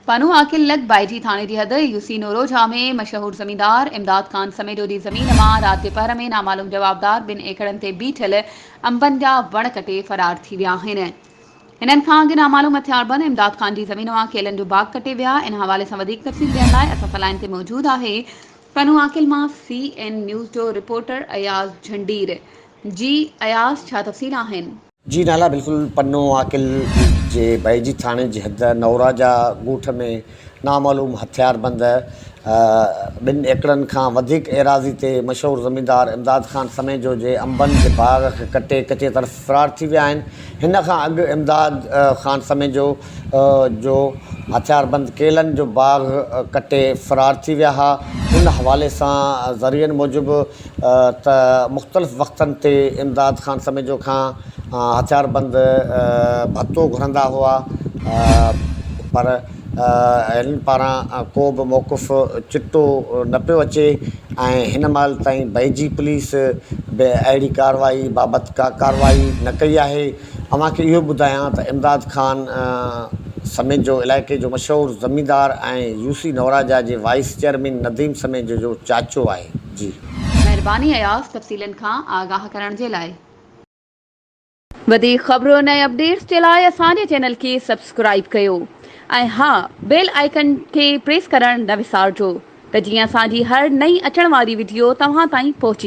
بنو عاقل لڳ بائجي ٿاڻي جي حد يوسي نورو جھا ۾ مشهور زميندار امداد خان سميجو جي زمين مان رات جي پهر ۾ نامعلوم جوابدار ٻن ايڪڙن تي بيٺل انبن جا وڻ ڪٽي فرار ٿي ويا آهن هنن کان اڳ نامعلوم هٿياربند امداد خان جي زمين مان ڪيلن جو باغ ڪٽي ويا ان حوالي سان وڌيڪ تفصيل ڏيڻ لاء اسان سان لائين تي موجود آهي بنو عاقل مان سي اين نيوز جو رپورٽر اياز جھنڊير جي اياز ڇا تفصيل آهن. جي نالا بلڪل پنو عاقل جي بهجي ٿاڻي جي حد نوراجا ڳوٺ ۾ نامعلوم هٿيار بند ٻن ايڪڙن کان وڌيڪ ايراضي تي مشهور زميندار امداد خان سميجو جي انبن جي باغ کي ڪٽي ڪچي طرف فرار ٿي ويا آهن هن کان اڳ امداد خان سميجو جو هٿيار بند ڪيلن جو باغ ڪٽي فرار ٿي ويا ها ان حوالي سان ذريعن موجب ته مختلف وقتن تي امداد خان سميجو کان هٿياربند ڀتو گهرندا هئا پر هنن پاران ڪو به موقف چٽو نه پيو اچي ۽ هن مهل تائين بيجي پوليس به اهڙي ڪارروائي بابت ڪا ڪارروائي نه ڪئي آهي اوهان کي اهو ٻڌايان ته امداد خان سميجو علائقي جو مشهور زميندار ۽ يوسي نوراجا جي وائيس چيئرمين نديم سميجو جو چاچو آهي. جي. مهرباني اياز تفصيلن کان آگاهه ڪرڻ جي لاء. وڌيڪ خبرن ۽ اپڊيٽس جي لاء اسان جي چينل کي سبسڪرائيب ڪيو ۽ ها بيل آئيڪن کي پريس ڪرڻ نه وسارجو ته جيئن اسان جي هر نئين اچڻ واري وڊيو توهان تائين پهچي